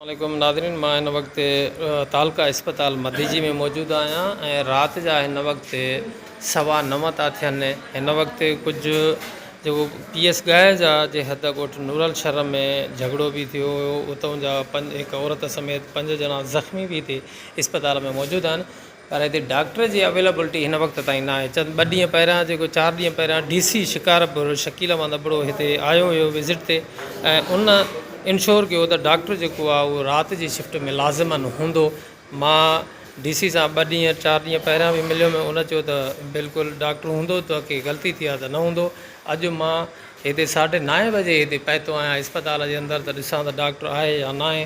عليڪم ناظرين مان هن وقت تعلقه اسپتال مديجي ۾ موجود آهيان ۽ رات جا هن وقت سوا نو ٿا ٿين هن وقت ڪجهه جيڪو پي ايس ڳاهه جا جي حد ڳوٺ نورل شھر ۾ جھڳڙو به ٿيو هيو اتون جا پنج هڪ عورت سميت پنج ڄڻا زخمي به هتي اسپتال ۾ موجود آهن پر هتي ڊاڪٽر جي اويليبلٽي هن وقت تائين نه آهي چند ٻه ڏينهن پهريان جيڪو چار ڏينهن پهريان ڊي سي شڪارپور شڪيل احمد ابڙو هتي آيو هيو وزٽ تي ۽ ان انشور ڪيو ته ڊاڪٽر جيڪو آهي اهو رات جي شفٽ ۾ لازما هوندو مان ڊي سي سان ٻه ڏينهن چار ڏينهن پهريان به مليو مي ان چيو ته بلڪل ڊاڪٽر هوندو تو کي غلطي ٿي آهي ته نه هوندو اڄ مان هتي ساڍي نائين بجي هتي پهتو آهيان اسپتال جي اندر ته ڏسان ته ڊاڪٽر آهي يا ناهي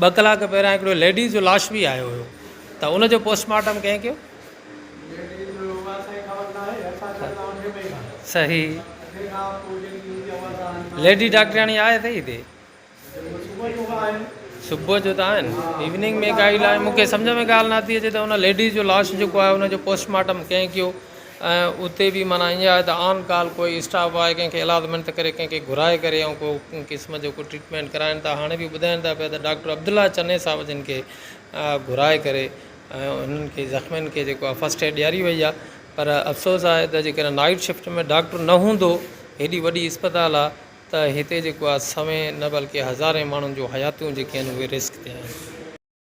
ٻه ڪلاڪ پهريان هڪڙو ليڊيز جو لاش به آيو هيو ته ان جو پوسٽ مارٽم ڪنهن ڪيو؟ صحيح ليڊي ڊاڪٽرياڻي آهي اٿئي هتي؟ صبح جو ته آهن ايوننگ ۾ ڪائي لاء مونکي سمجهه ۾ ڳالهه نٿي اچي ته ان ليڊيز جو لاش جيڪو آهي ان جو پوسٽ مارٽم ڪنهن ڪيو؟ ۽ اتي به معنيٰ ائين آهي ته آن ڪال ڪوئي اسٽاف آهي ڪنهن کي الادمينٽ ڪري ڪنهن کي گهرائي ڪري ۽ ڪو قسم جو ڪو ٽريٽمينٽ ڪرائين ٿا هاڻي به ٻڌائين ٿا پيا ته ڊاڪٽر عبدالله چني صاحب جن کي گهرائي ڪري ۽ انهن کي زخمين کي جيڪو آهي فسٽ ايڊ ڏياري وئي آهي پر افسوس آهي ته جيڪڏهن نائيٽ شفٽ ۾ ڊاڪٽر نه هوندو هيڏي وڏي اسپتال آهي ته هتي جيڪو آهي سوين نه بلڪه هزارين ماڻهن جون حياتيون جيڪي آهن اهي رسڪ تي آهن.